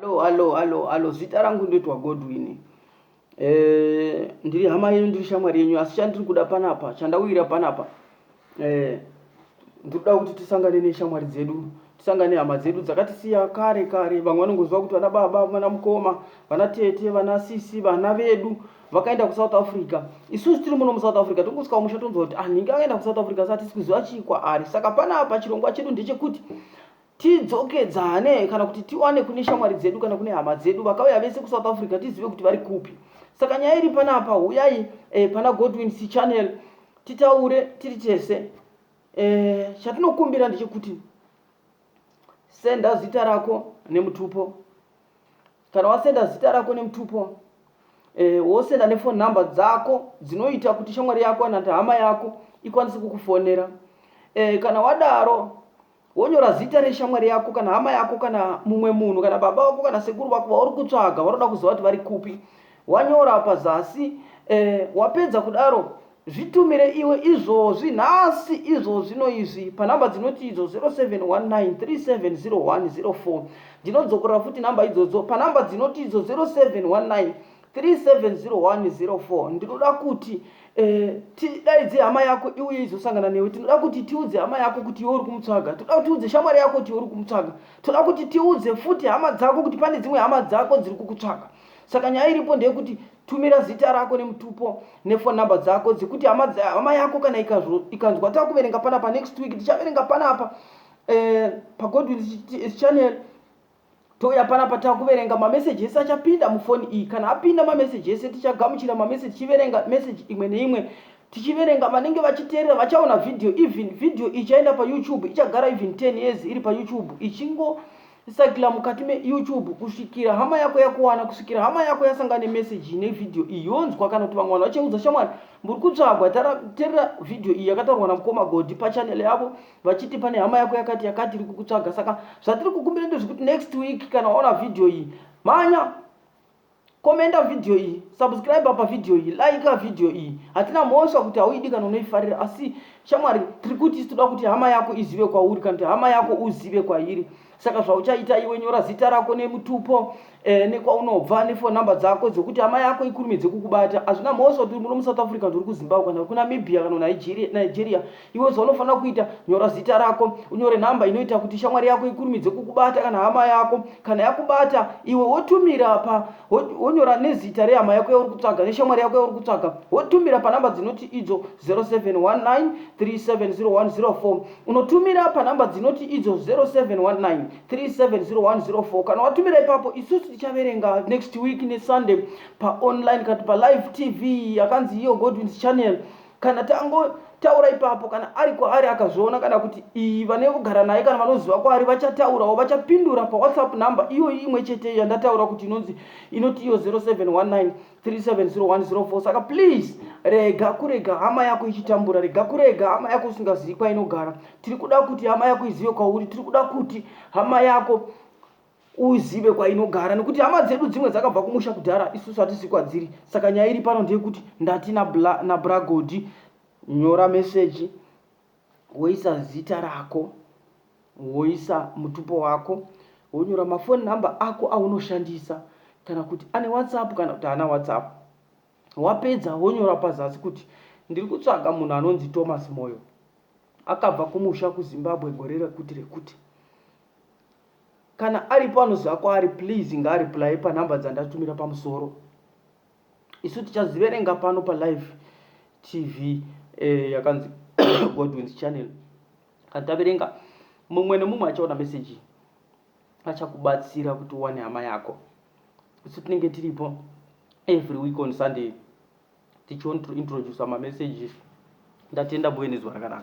Alo, alo, alo, alo, zita rangu ndoitwa Godwin. Eh, ndiri hama yenyu, ndiri shamwari yenyu, asi chandiri kuda panapa, chandauyira panapa. Eh, ndiri kuda kuti tisangane neshamwari dzedu, tisangane hama dzedu dzakatisiya kare kare. Vamwe vanongoziva kuti vana baba, vana mukoma, vana tete, vana sisi, vana vedu vakaenda kuSouth Africa. Isusu tiri muno muSouth Africa tongosvika musha tonzwa kuti ah, nhingi akaenda kuSouth Africa, saka tisi kuziva chii kwaari. Saka panapa chirongwa chedu ndechekuti tidzokedzane kana kuti tiwane kune shamwari dzedu kana kune hama dzedu vakauya vese kusouth africa tizive kuti vari kupi saka nyaya iri panapa huyai eh, pana godwin c channel titaure tiri tese eh, chatinokumbira ndechekuti senda zita rako nemutupo kana wasenda zita rako nemutupo eh, wosenda nefone number dzako dzinoita kuti shamwari yako kana kuti hama yako ikwanise kukufonera eh, kana wadaro wonyora zita reshamwari yako kana hama yako kana mumwe munhu kana baba vako kana sekuru vako vauri kutsvaga vanoda kuziva kuti vari kupi wanyora pazasi eh, wapedza kudaro zvitumire iwe izvozvi nhasi izvozvi noizvi panhamba dzinoti idzo 0719370104 ndinodzokorora futi nhamba idzodzo panhamba dzinoti idzo 0719 370104 ndinoda kuti eh, tidaidze hama yako iuye izosangana newe tinoda kuti tiudze hama yako kuti iwe uri kumutsvaga toda kuti tiudze shamwari yako kuti iwe uri kumutsvaga toda kuti tiudze futi hama dzako kuti pane dzimwe hama dzako dziri kukutsvaga saka nyaya iripo ndeyekuti tumira zita rako nemutupo nefone number dzako dzekuti hama yako kana ikanzwa takuverenga panapa next week tichaverenga panapa eh, pagodwin channel Touya panapa takuverenga mameseji ese achapinda mufoni iyi. Kana apinda mameseji ese tichagamuchira mameseji tichiverenga meseji imwe neimwe. Tichiverenga vanenge vachiteerera vachaona video even video ichaenda pa YouTube ichagara even 10 years iri pa YouTube ichingo sakila mukati me YouTube kusvikira hama yako yakuwana kusvikira hama yako yasangana ne message ne video iyi yonzwa kana kuti vamwe vanhu vachaudza shamwari muri kutsvagwa terera video iyi yakataurwa na mukoma Godi pa channel yavo vachiti pane hama yako yakati yakati iri kukutsvaga saka zvatiri kukumbira ndezvekuti next week kana waona vhidhiyo iyi mhanya komenda vhidhiyo iyi subscribe apa vhidhiyo iyi like vhidhiyo iyi hatina mhosva kuti hauidi kana unoifarira asi shamwari tiri kuti isi toda kuti hama yako izive kwauri kana kuti hama yako uzive kwairi kwa saka zvauchaita iwe nyora zita rako nemutupo eh, nekwaunobva nefone number dzako dzekuti amai yako ikurumidze kukubata hazvina mhosva kuti muno musouth africa ndiri kuzimbabwe kana kunamibia kana nigeria iwe zvaunofanira kuita nyora zita rako unyore number inoita kuti shamwari yako ikurumidze kukubata kana hama yako kana yakubata iwe wotumira pa wonyora nezita rehama yako yauri kutsvaga neshamwari yako yauri kutsvaga wotumira panumber dzinoti idzo 0719 370104 unotumira panhamba dzinoti idzo 0719370104 kana watumira ipapo isusu tichaverenga next week nesunday paonline kana palive tv yakanzi iyo godwins channel kana tangotaura ipapo kana ari kwaari akazviona kana kuti iyi vane kugara naye kana vanoziva kwaari vachataurawo vachapindura pawhatsapp number iyoyi imwe chete yandataura kuti inonzi inoti iyo 0719 370104 saka please rega kurega hama yako ichitambura rega kurega hama yako usingazivi kwainogara tiri kuda kuti hama yako izive kwauri tiri kuda kuti hama yako uzive kwainogara nekuti hama dzedu dzimwe dzakabva kumusha kudhara isusu hatisi kwadziri saka nyaya iri pano ndeyekuti ndati nabragodi nyora meseji woisa zita rako woisa mutupo wako wonyora mafoni number ako aunoshandisa kana kuti ane whatsapp kana kuti ana whatsapp wapedza wonyora pazasi kuti ndiri kutsvaga munhu anonzi thomas moyo akabva kumusha kuzimbabwe gore rekuti rekuti kana aripo anoziva kwaari please ngaariplaye panhamba dzandatumira pamusoro isu tichaziverenga pano palive tv eh, yakanzi godwins channel Kana taverenga, mumwe nemumwe achaona meseji iyi achakubatsira kuti uwane hama yako. Isu tinenge tiripo every week on Sunday tichionintroducer mamesages. Ndatenda muve nezuva rakanaka.